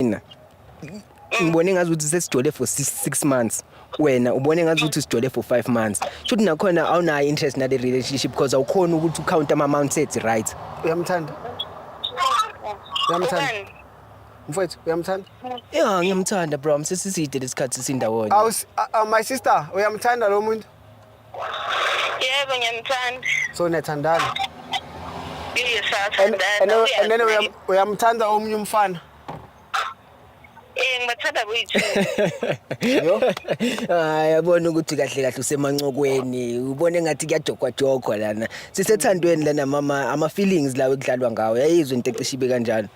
mina ngibone ngazi ukuthi sesijole for six, six months wena ubone ngazi ukuthi sijole for five months shuthi nakhona awunayo interest nale relationship because awukhona ukuthi ucount ama-amount ethi right uyamthanda uyamthanda mfowethu uyamthanda ya ngiyamthanda bro msesiside lesikhathi sindawonye my sister uyamthanda lo muntu Yebo ngiyamthanda. So niyathandana? Yes, And siyathandana. and then uyam- uyamthanda omunye umfana. Eh ngibathanda boyithu. Yo. hayi abona ukuthi kahle kahle usemancokweni ubona engathi kuyajogwajogwa lana sisethandweni lana mama ama-feelings lawo ekudlalwa ngawo yayizwa into ecishe ibe kanjalo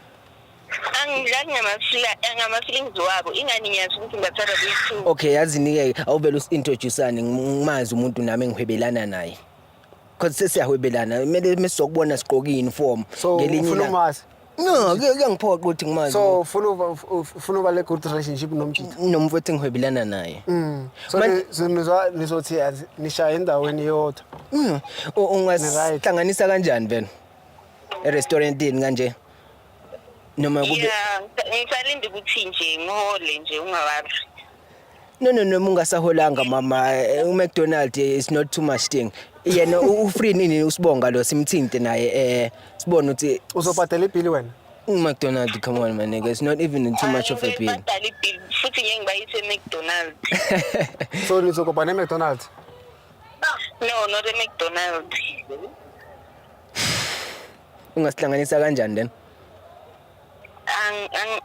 angidlali ngamasila eh, ngama-feelings wabo ingani ngiyazi ukuthi ngibathanda kuyi-two okay yazinike awuvele usi-introducane ngimazi umuntu nami engihwebelana naye cause sesiyahwebelana kumele mesizokubona sigqoke i-uniform so ngelinye ufuna ilanga. umazi no kuya- kuyangiphoqa ukuthi ngimazi so ufuna uba- uf- ufuna uba le good relationship nomjita nomfowethu engihwebelana naye Mm. so Man- ni- so nizwa- nizothi azi- nishaye endaweni yodwa Mm, u- Ni-right. ungahlanganisa kanjani vena erestaurantini kanje noma kube Yeah, ngisalinde ukuthi nje ngihole nje ungawazi. no no noma ungasaholanga mama eh, uMcDonald eh, is not too much thing yena u- ufree nini usibonga lo simthinte naye eh sibone ukuthi uzobhadela ibhili wena uMcDonald come on my nigga it's not even too much of a bill Badala ibill futhi ngeke ngibayise eMcDonald's. so nizokobha ne-mcdonald No, not eMcDonald's. ungasihlanganisa kanjani then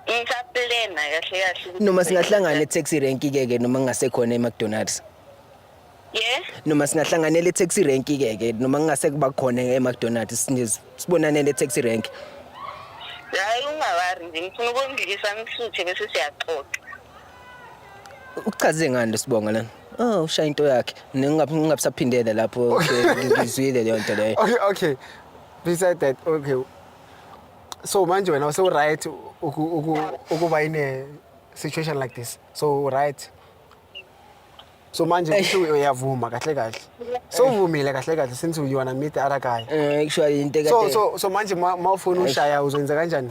ngisaplena kahle kahle noma singahlangana e-taxi rank ke ke noma ngingasekhona e-mcdonalds Yeah. Noma singahlanganela e-taxi rank ke ke noma ngingase kuba khona e-McDonald's sibonane le-taxi rank. Hayi ungawari nje ngifuna ukundlisa ngisuthe bese siyaxoxa. Ukuchaze ngani lesibonga lana? Oh, ushaya into yakhe. Ningabe ningabisaphindele lapho ngizwile leyo nto leyo. Okay, okay. Besides that, okay. So manje wena use right ukuba in a situation like this. So right. so manje Eish. kusho uyavuma kahle kahle so uvumile kahle kahle since you wanna meet other guy Eh, actually into so ekade so so manje ma ma ufuna ushaya uzoyenza kanjani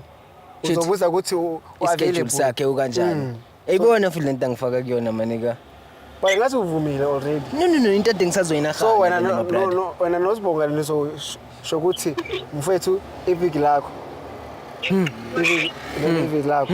Shit. uzobuza ukuthi u- u ischedule available sakhe ukanjani. Mm. Eyibona futhi lento angifaka kuyona manika. but ngathi uvumile already No no no into ade ngisazoyina so khani wena mina, no- my brother. no- no- wena nosibongela nizosho ukuthi mfethu iviki lakho Iviki- leli iviki lakho